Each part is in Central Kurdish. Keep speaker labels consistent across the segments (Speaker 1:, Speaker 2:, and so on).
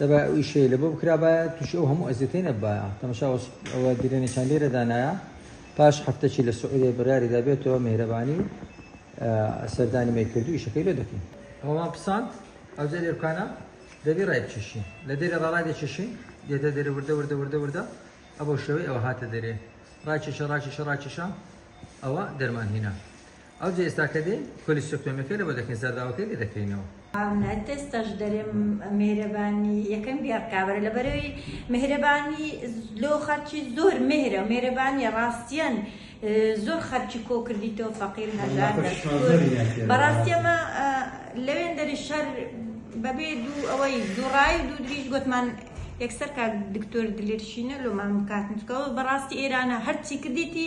Speaker 1: دەبایە ئەو ئیشەی لەبۆ بکرابایە تووشی ئەو هەموو ئەزیەتەی نەبایە تەمەشا ئەوە درێنێکیان لێرە دانایە پاش هەفتەکی لە سعودیە بڕیاری دابێتەوە مهرەبانی سەردانی مەی کردو ئیشەکەی لێ دەکەین ئەوەمان پساند ئەوجا لێرکانە دەبی ڕای بچیشین لە دێرێ ڕاڕای دەچیشین دێتە دێرە وردە وردە وردە وردە ئەبەو شێوەی ئەوە هاتە دەرێ ڕاکێشە ڕاکێشە ڕاکێشە ئەوە دەرمان هینا ئەوجە ئێستا کە دێین کۆلیستۆکتۆمیەکە لەوە دەکەین زەرداوەکەی لێ دەکەینەوە. هاونەت ئێستاش
Speaker 2: دەرێم مێهرەبانی یەکەم بیا بکابەرە لەبەرەوەی مێهرەبانی لۆ خەرکی زۆر مێهرە مێرەبانیە ڕاستیان زۆر خەرکی کۆ کردی تۆ فەقیر هەژار بەڕاستی ئەمە لەوێن دەری شەر بەبێ دوو ئەوەی دوڕای دوو دریش گوتمان یەکسەر کاک دکتۆر دلێرشینە لۆمان بکاتنکەوە بەڕاستی ئێرانە هەرچی کردیتی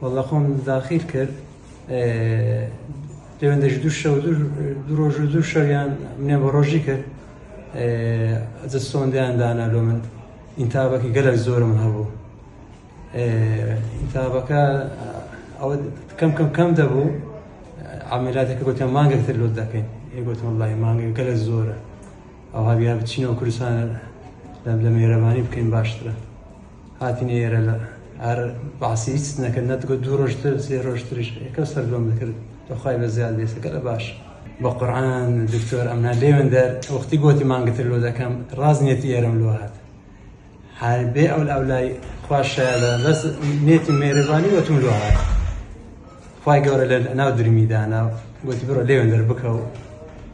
Speaker 3: واللە خۆم داخیل کرد پەیوەندەش دوو شەو دوو ڕۆژ و دوو شەویان منێ بە ڕۆژی کرد ئەجە سۆندیان دانا لۆ من ئینتابەکی گەلک زۆرم هەبوو ئینتابەکە ئەوە کەم کەم کەم دەبوو ئامێلاتەکە گوتە مانگێکتر لۆت دەکەین گوتم وڵی مانگە گەلە زۆرە ئەوها بیا بچینەوە کوردستانە لە لە مێرەبانی بکەین باشترە هاتینە ئێرە لە ئار بەعسی هیچ نەکرد نەتگوت دوو ڕۆژ تر سێ ڕۆژ تریش یەکە سەردۆم دەکرد بەخوای بە زیاد بێسەکە لە باش بە قورآن دکتۆر ئەمنا لێوێن دەر وەختی گوتی مانگتر لۆ دەکەم ڕاز نێتی ئێرەم لۆ هات هەر بێ ئەو ئەولای خوا شایەدە بەس نێتی مێرەبانی وەتم لۆ هات خوای گەورە لە ناو درمیدانا گوتی بڕۆ لێوێن دەر بکەوە